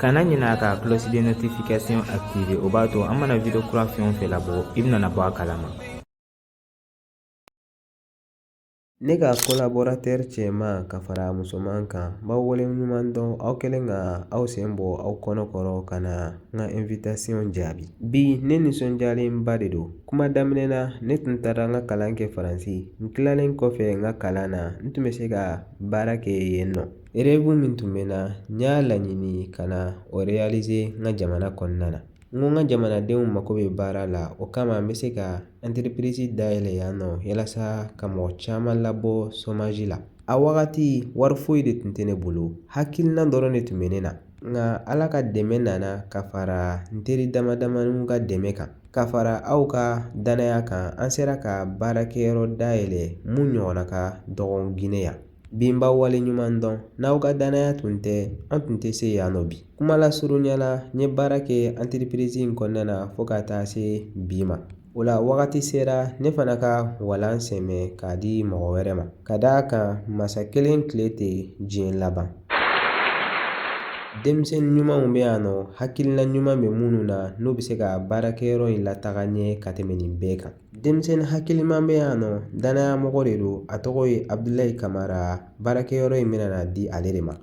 kana ɲinɛ ka cloche de notification activer o b'a to an mana video kura fɛn o fɛn labɔ i bɛna bɔ a kalama ne ka collaborateur cɛman ka fara musoman kan n b'aw waleɲuman dɔn aw kɛlen ka aw sen bɔ aw kɔnɔ kɔrɔ ka na n ka invitation jaabi bi ne nisɔndiyalenba de don kuma daminɛ na ne tun taara n ka kalan kɛ faransi n tilalen kɔfɛ n ka kalan na n tun bɛ se ka baara kɛ yen nɔ Rêve min tun bɛ n na n y'a laɲini ka na o réaliser n ka jamana kɔnɔna na n ko n ka jamanadenw mako bɛ baara la o kama n bɛ se ka n entreprise dayɛlɛ yan nɔ walasa ka mɔgɔ caman labɔ chômage la a wagati wari foyi de tun tɛ ne bolo hakilina dɔrɔn de tun bɛ ne na nka ala ka dɛmɛ nana ka fara n teri dama damaniw ka dɛmɛ kan ka fara aw ka danaya kan an sera ka baarakɛyɔrɔ dayɛlɛ mun ɲɔgɔnna ka dɔgɔ gine yan Bi n b'aw waleɲuman dɔn n'aw ka danaya tun tɛ an tun tɛ se yan nɔ bi kuma lasurunya la n ye baara kɛ entreprise in kɔnɔna na fo ka taa se bi ma o la wagati sera ne fana ka walan sɛmɛ k'a di mɔgɔ wɛrɛ ma ka d'a kan masa kelen tile tɛ diɲɛ laban denmisɛn ɲumanw bɛ yan nɔ hakilina ɲuman bɛ minnu na n'u bɛ se ka baarakɛyɔrɔ in lataga ɲɛ ka tɛmɛ nin bɛɛ kan denmisɛnnin hakiliman bɛ yan nɔ danaya mɔgɔ de don a tɔgɔ ye abudulayi kamara baarakɛyɔrɔ in bɛna di ale de ma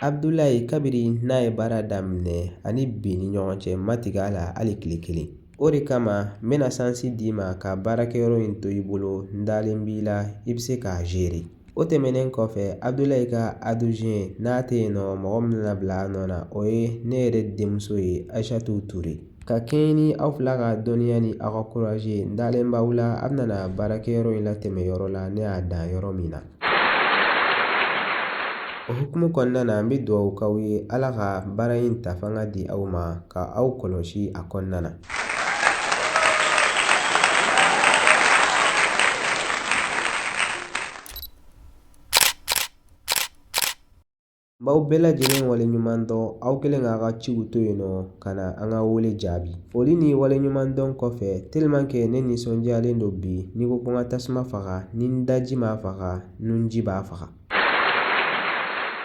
abudulayi kabiri n'a ye baara daminɛ ani bi ni ɲɔgɔn cɛ n ma tig'a la hali tile kelen o de kama n bɛna sansi d'i ma ka baarakɛyɔrɔ in to i bolo n dalen b'i la i bɛ se k'a gérer o tɛmɛnen kɔfɛ abudulayi ka adjoint n'a tɛ yen nɔ mɔgɔ min bɛna bila a nɔ na o ye ne yɛrɛ denmuso ye ayisatu ture ka kɛɲɛ ni aw fila ka dɔnniya ni aw ka courage n dalen b'aw la aw bɛna baarakɛyɔrɔ in latɛmɛ yɔrɔ la ne y'a dan yɔrɔ min na o hukumu kɔnɔna na an bɛ dugawu k'aw ye ala ka baara in ta fanga di aw ma ka aw kɔlɔsi a kɔnɔna na B'aw bɛɛ lajɛlen waleɲuman dɔn aw kɛlen k'aw ka ciw to yen nɔ ka na an ka wele jaabi foli ni waleɲuman dɔn kɔfɛ ne nisɔndiyalen don bi n'i ko ko n ka tasuma faga ni n daji m'a faga nunji b'a faga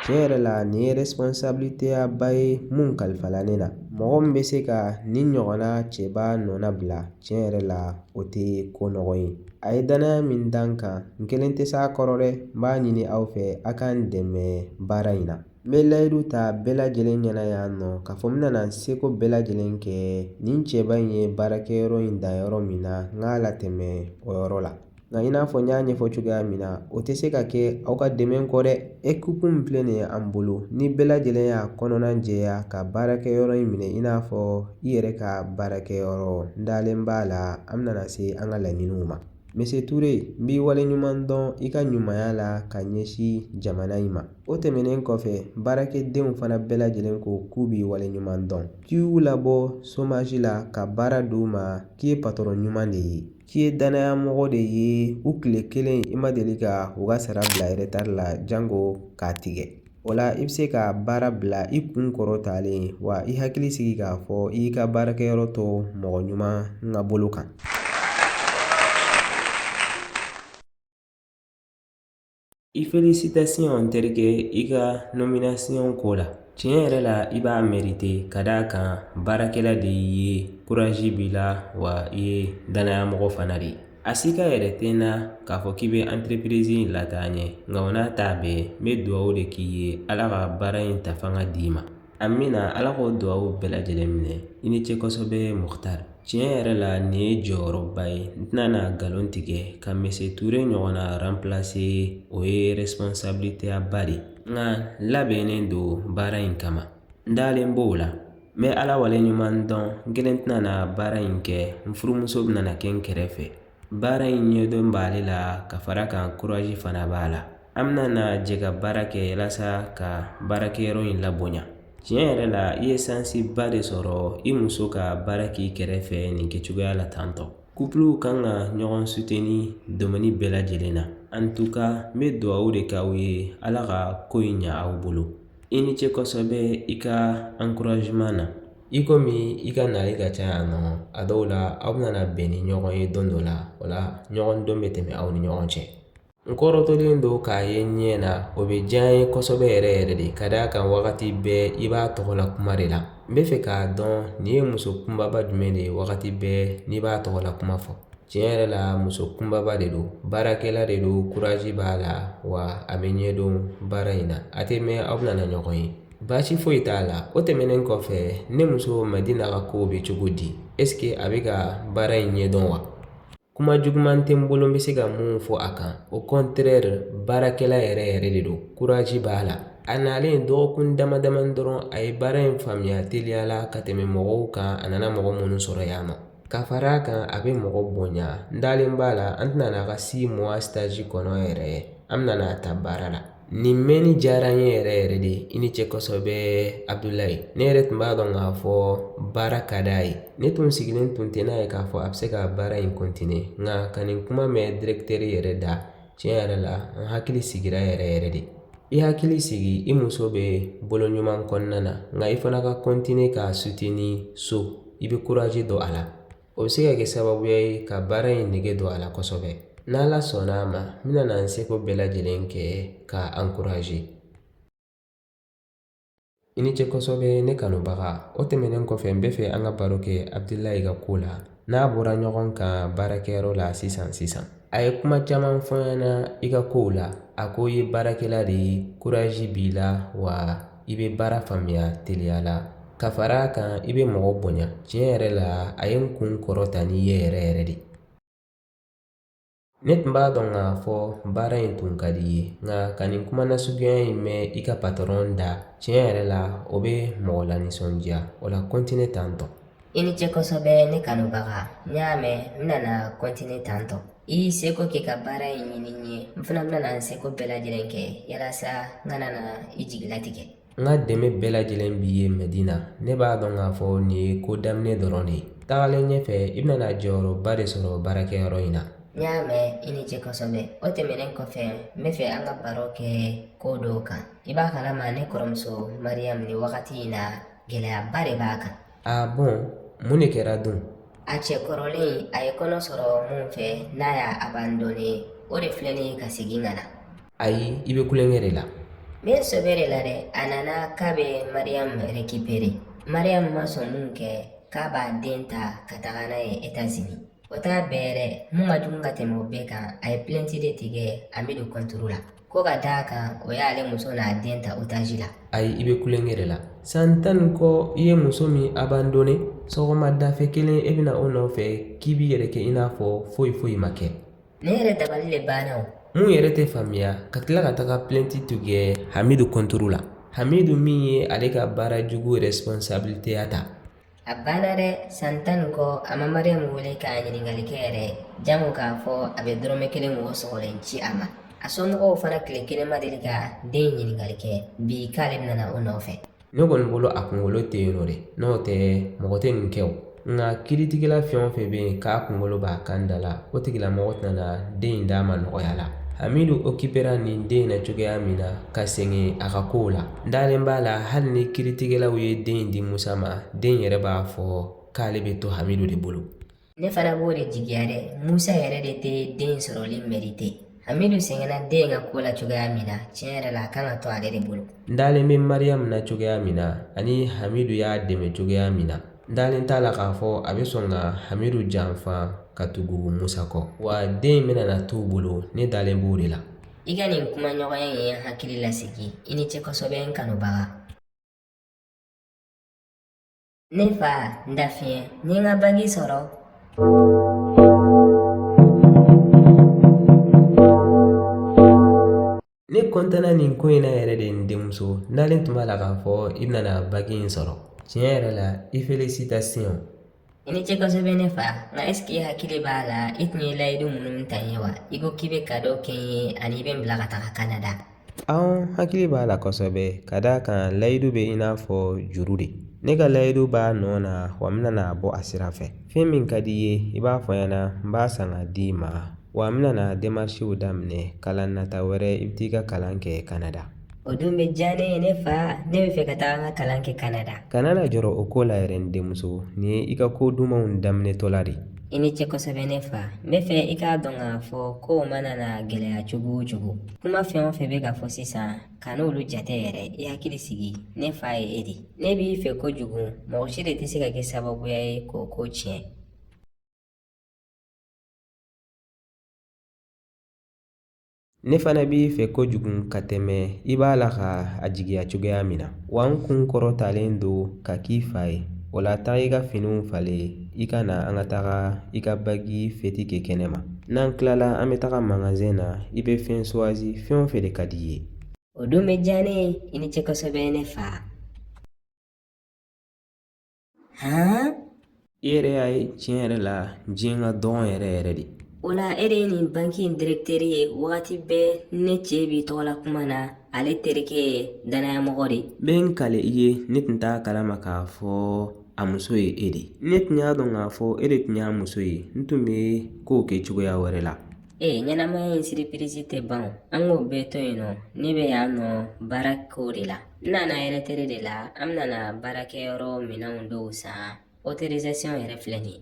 tiɲɛ yɛrɛ la nin ye responsabilité ba ye mun kalifala ne la mɔgɔ min bɛ se ka nin ɲɔgɔnna cɛba nɔnabila tiɲɛ yɛrɛ la o tɛ ko nɔgɔ ye a ye danaya min da n kan n kelen tɛ s'a kɔrɔ dɛ n b'a ɲini aw fɛ a ka n dɛmɛ baara in na n bɛ layidu ta bɛɛ lajɛlen ɲɛna yan nɔ k'a fɔ n bɛna n seko bɛɛ lajɛlen kɛ nin cɛba in ye baarakɛyɔrɔ in dan yɔrɔ min na n k'a latɛmɛ o yɔrɔ la nka i n'a fɔ n y'a ɲɛfɔ cogoya min na o tɛ se ka kɛ aw ka dɛmɛ kɔ dɛ ekipu min filɛ nin ye an bolo ni bɛɛ lajɛlen y'a kɔnɔna jɛya ka baarakɛyɔrɔ in minɛ i n'a fɔ i yɛrɛ ka baarakɛyɔrɔ n dalen b'a la an bɛna na se an ka laɲiniw ma misi ture n b'i wale ɲuman dɔn i ka ɲumanya la ka ɲɛsin jamana in ma o tɛmɛnen kɔfɛ baarakɛdenw fana bɛɛ lajɛlen ko k'u b'i wale ɲuman dɔn k'i y'u labɔ somazi la ka baara d'u ma k'i ye patɔrɔn ɲuman de ye k'i ye danaya mɔgɔ de ye u kile kelen i ma deli ka u ka sara bila eretari la janko k'a tigɛ o la i bɛ se ka baara bila i kun kɔrɔtalen wa i hakili sigi k'a fɔ i y'i ka baarakɛyɔrɔ to mɔgɔ ɲuman ka bolo kan I felisitasiyɔn terikɛ i ka nɔminasiyɔn ko la tiɲɛ yɛrɛ la i b'a mɛrite ka d'a kan baarakɛla de y'i ye kurazi b'i la wa i ye danaya mɔgɔ fana de ye a sika yɛrɛ tɛ n na k'a fɔ k'i bɛ anterepirizi in lataa ɲɛ nka o n'a ta bɛɛ n bɛ dugawu de k'i ye ala ka baara in ta fanga d'i ma Amiina ala k'o dugawu bɛɛ lajɛlen minɛ i ni ce kosɛbɛ mukutari tiɲɛ yɛrɛ la nin ye jɔyɔrɔba ye n tɛna na nkalon tigɛ ka misi ture ɲɔgɔnna ranplase o ye erɛsponsabiliteba de ye nka labɛnnen don baara in kama n dalen b'o la n bɛ ala wale ɲuman dɔn n kelen tɛna na baara in kɛ n furumuso bɛna na kɛ n kɛrɛfɛ Baara in ɲɛdɔn b'ale la ka fara a kan kurazi fana b'a la an bɛna na jɛ ka baara kɛ walasa ka baarakɛyɔrɔ in labonya tiɲɛ yɛrɛ la i ye sansiba de sɔrɔ i muso ka baara k'i kɛrɛfɛ nin kɛ cogoya la tantɔ kupluw kan ka ɲɔgɔn suteni domɛni bɛɛ lajɛlen na an tu ka n bɛ dugawu de k'aw ye ala ka ko in ɲɛ aw bolo i ni ce kosɛbɛ i ka ankurazeman na i kɔmi i ka nali ka ca yan nɔ a dɔw la aw bɛna na bɛn ni ɲɔgɔn ye don dɔ la o la ɲɔgɔn dɔn bɛ tɛmɛ aw ni ɲɔgɔn cɛ n kɔrɔtɔlen don k'a ye ɲɛ na o bɛ diya n ye kosɛbɛ yɛrɛ yɛrɛ de ka d'a kan wagati bɛɛ i b'a tɔgɔ la kuma de la n b'a fɛ k'a dɔn nin ye muso kunbaba jumɛn de ye wagati bɛɛ n'i b'a tɔgɔ la kuma fɔ tiɲɛ yɛrɛ la muso kunbaba de don baarakɛla de don kuraji b'a la wa a bɛ ɲɛdɔn baara in na a tɛ mɛn aw bɛna na ɲɔgɔn ye Baasi foyi t'a la o tɛmɛnen kɔfɛ ne muso madina ka kow bɛ cogo di ɛsike a bɛ ka baara in ɲɛ dɔn wa kuma juguman tɛ n bolo n bɛ se ka min fɔ a kan o kɔntrɛri baarakɛla yɛrɛ yɛrɛ de don kuraji b'a la a nalen dɔgɔkun dama dama dɔrɔn a ye baara in faamuya teliya la ka tɛmɛ mɔgɔw kan a nana mɔgɔ minnu sɔrɔ yan nɔ ka fara a kan a bɛ mɔgɔ bonya n dalen b'a la an tɛna n'a ka si muwa sitazi kɔnɔ yɛrɛ an bɛna n'a ta baara la Nin mɛnni diyara n ye yɛrɛ yɛrɛ de i ni ce kosɛbɛ abudulayi ne yɛrɛ tun b'a dɔn k'a fɔ baara ka d'a ye ne tun sigilen tun tɛ n'a ye k'a fɔ a bɛ se ka baara in kɔntine nka ka nin kuma mɛn dirɛkitɛri yɛrɛ da tiɲɛ yɛrɛ la n hakili sigira yɛrɛ yɛrɛ de i hakili sigi i muso bɛ bolo ɲuman kɔnɔna na nka i fana ka kɔntine k'a sutini so i bɛ kuraji don a la o bɛ se ka kɛ sababuya ye ka baara in nege don a la kosɛbɛ n'ala sɔnna a ma n bɛna n seko bɛɛ lajɛlen kɛ k'a ankuraje i ni ce kosɛbɛ ne kanubaga o tɛmɛnen kɔfɛ n bɛ fɛ an ka baro kɛ abudulayi ka ko la n'a bɔra ɲɔgɔn kan baarakɛyɔrɔ la sisan sisan a ye kuma caman fɔ n ɲɛna i ka kow la a ko i ye baarakɛla de ye kuraji b'i la wa i bɛ baara faamuya teliya la ka fara a kan i bɛ mɔgɔ bonya tiɲɛ yɛrɛ la a ye n kun kɔrɔta n'i ye yɛrɛ yɛrɛ de ne tun b'a dɔn k'a fɔ baara in tun ka di i ye nka ka nin kuma nasuguya in mɛn i ka patɔrɔn da tiɲɛ yɛrɛ la o bɛ mɔgɔ lanisɔndiya o la kɔntine tantɔ I ni ce kosɛbɛ ne kanubaga n y'a mɛn n bɛna kɔntine tantɔ i seko k'i ka baara ye ɲini ye n fana bɛna n seko bɛɛ lajɛlen kɛ yalasa n kana na i jigi latigɛ n ka dɛmɛ bɛɛ lajɛlen b'i ye mɛdina ne b'a dɔn k'a fɔ nin ye ko daminɛ dɔrɔn de ye tagalen ɲɛfɛ i bɛna jɔyɔrɔba de sɔrɔ baarakɛyɔrɔ in na n y'a mɛn i ni ce kosɛbɛ o tɛmɛnen kɔfɛ n bɛ fɛ an ka baro kɛ ko dɔ kan i b'a kalama ne kɔrɔmuso mariyamu nin wagati in na gɛlɛyaba de b'a kan a bɔn mun de kɛra don a cɛ kɔrɔlen a ye kɔnɔ sɔrɔ min fɛ n'a y'a abandone o de filɛ nin ye ka segin ka na ayi i bɛ tulonkɛ de la n bɛ sɛbɛ de la dɛ a nana k'a bɛ mariyamu rekipere mariyamu ma sɔn min kɛ k'a b'a den ta ka taga n'a ye etazini o t'a bɛɛ yɛrɛ min ka jugu ka tɛmɛ o bɛɛ kan a ye pilɛnti de tigɛ hamidu kɔntoro la ko ka d'a kan o y'ale muso n'a den ta otaji la ayi i bɛ tulonkɛ de la san tan ni kɔ i ye muso min abandone sɔgɔmada fɛ kelen e bɛ na o nɔfɛ k'i b'i yɛrɛ kɛ i n'a fɔ foyi foyi ma kɛ ne yɛrɛ dabali de banna o mun yɛrɛ tɛ faamuya ka tila ka taga plɛnti tigɛ hamidu kɔntoro la hamidu min ye ale ka baara jugu responsabiliteya ta a banna dɛ san tan ni kɔ a ma mariyamu wele k'a ɲininkali kɛ yɛrɛ jango k'a fɔ a bɛ dɔrɔmɛ kelen mɔgɔ sɔgɔlen ci a ma a somɔgɔw fana tile kelen ma deli ka den ɲininkali kɛ bi k'ale nana o nɔfɛ ne kɔni bolo a kunkolo tɛ yen nɔ dɛ n'o tɛ mɔgɔ tɛ nin kɛ o nka kiritigɛla fɛn o fɛn bɛ yen k'a kunkolo b'a kan da la o tigilamɔgɔ tɛna den in d'a ma nɔgɔya la hamidu okipera nin den in na cogoya min na ka segin a ka kow la N dalen b'a la hali ni kiritigɛlaw ye den in di musa ma den in yɛrɛ b'a fɔ k'ale bɛ to hamidu de bolo ne fana b'o de jigiya dɛ musa yɛrɛ de tɛ den in sɔrɔli mɛrite hamidu sɛgɛnna den in ka ko la cogoya min na tiɲɛ yɛrɛ la a kan ka to ale de bolo n dalen bɛ mariyamu na cogoya min na ani hamidu y'a dɛmɛ cogoya min na n dalen t'a la k'a fɔ a bɛ sɔn ka hamidu janfa ka tugu musa kɔ wa den in bɛna na t'u bolo ne dalen b'o de la I ka nin kumaɲɔgɔnya in ye n hakili lasigi i ni ce kosɛbɛ n kanubaga ne fa n dafiɲɛ n ye n ka baki sɔrɔ ne kɔntanna nin ko in na yɛrɛ de n denmuso n dalen tun b'a la k'a fɔ i bɛna baki in sɔrɔ tiɲɛ yɛrɛ la i felisitasiyɔn I ni ce kosɛbɛ ne fa nka ɛsike i hakili b'a la i tun ye layidu minnu ta n ye wa i ko k'i bɛ kado kɛ n ye ani i bɛ n bila ka taa Canada. Ɔnhɔn n hakili b'a la kosɛbɛ ka d'a kan layidu bɛ i n'a fɔ juru de ne ka layidu b'a nɔ na wa n bɛna n'a bɔ a sira fɛ fɛn min ka di i ye i b'a fɔ n ɲɛna n b'a san ka di i ma wa n bɛna na demarisiw daminɛ kalan nata wɛrɛ i bɛ t'i ka kalan kɛ kanada O dun bɛ diya ne ye ne fa ne b'a fɛ ka taa n ka kalan kɛ Kanada. Kana na jɔrɔ o ko la yɛrɛ n denmuso, nin ye i ka ko dumanw daminɛtɔ la de. I ni ce kosɛbɛ ne fa. N b'a fɛ i k'a dɔn k'a fɔ kow mana na gɛlɛya cogo o cogo. Kuma fɛn o fɛn bɛ ka fɔ sisan, kan'olu jate yɛrɛ, i hakili sigi. Ne fa ye e de. Ne b'i fɛ kojugu, mɔgɔ si de tɛ se ka kɛ sababuya ye k'o ko tiɲɛ. ne fana b'i fɛ kojugu ka tɛmɛ i b'a la ka a jigiya cogoya min na wa n kun kɔrɔtalen don ka k'i fa ye o la taa i ka finiw falen i ka na an ka taga i ka baki fɛti kɛ kɛnɛ ma n'an tilala an bɛ taga magazɛn na i bɛ fɛn suwazi fɛn o fɛn de ka di i ye o dun bɛ diya ne ye i ni ce kosɛbɛ ne fa hɛn i yɛrɛ y'a ye tiɲɛ yɛrɛ la diɲɛ ka dɔgɔ yɛrɛ yɛrɛ de o la e de ye nin banki in direkiteri ye wagati bɛɛ ne cɛ b'i tɔgɔ la kuma na ale terikɛ ye dannayamɔgɔ de ye n bɛ n kali i ye ne tun t'a kalama k'a fɔ a muso ye e de ye ne tun y'a dɔn k'a fɔ e de tun y'a muso ye n tun bɛ kow kɛ cogoya wɛrɛ la ee ɲɛnamaya in siripirizi tɛ ban o. an k'o bɛɛ to yen nɔ ne bɛ yan nɔ baarako de la N nana ɛrɛtɛrɛ de la an bɛna na baarakɛyɔrɔ minɛnw dɔw san otorizasiyɔn yɛrɛ filɛ nin ye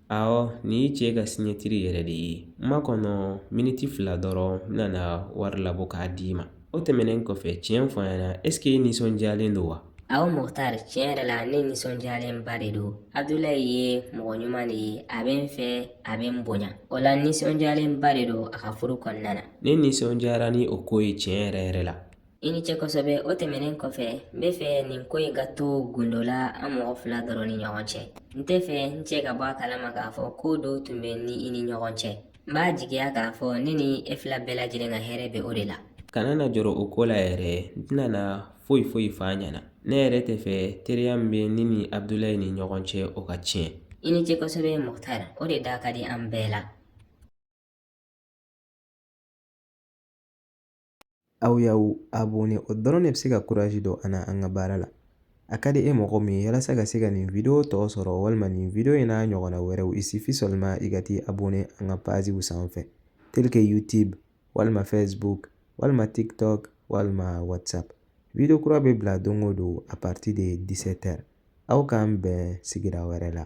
awɔ nin y'i cɛ ka siɲɛtiri yɛrɛ de ye n makɔnɔ miniti fila dɔrɔn n bɛna na wari labɔ k'a di i ma o tɛmɛnen kɔfɛ tiɲɛ fɔ n ɲɛna ɛsike i nisɔndiyalen don wa awɔ mukutari tiɲɛ yɛrɛ la ne nisɔndiyalenba de don abudulayi ye mɔgɔ ɲuman de ye a bɛ n fɛ a bɛ n bonya o la nisɔndiyalenba de don a ka furu kɔnɔna na ne nisɔndiyara ni o ko ye tiɲɛ yɛrɛ yɛrɛ la I ni ce kosɛbɛ o tɛmɛnen kɔfɛ n bɛ fɛ nin ko in ka to gundo la an mɔgɔ fila dɔrɔn ni ɲɔgɔn cɛ n tɛ fɛ n cɛ ka bɔ a kalama k'a fɔ ko dɔ tun bɛ n ni i ni ɲɔgɔn cɛ n b'a jigiya k'a fɔ ne ni e fila bɛɛ lajɛlen ka hɛrɛ bɛ o de la kana na jɔrɔ o ko la yɛrɛ n tɛna na foyi foyi fɔ a ɲɛna ne yɛrɛ tɛ fɛ teriya min bɛ ne ni abudulayi ni ɲɔgɔn cɛ o ka tiɲɛ i ni ce kosɛbɛ mɔgɔtara o de da ka di an bɛɛ la Aw y'aw abɔne o dɔrɔn de bɛ se ka kuraji don an na an ka baara la a ka di e mɔgɔ min ye walasa ka se ka nin wideyo tɔ sɔrɔ walima nin wideyo in n'a ɲɔgɔnna wɛrɛw il suffit seulement i ka t'i abɔne an ka paziw sanfɛ tel que youtube walima facebook walima tiktok walima whatsapp wideyo kura bɛ bila don o don à partir de 17 heures aw k'an bɛn sigira wɛrɛ la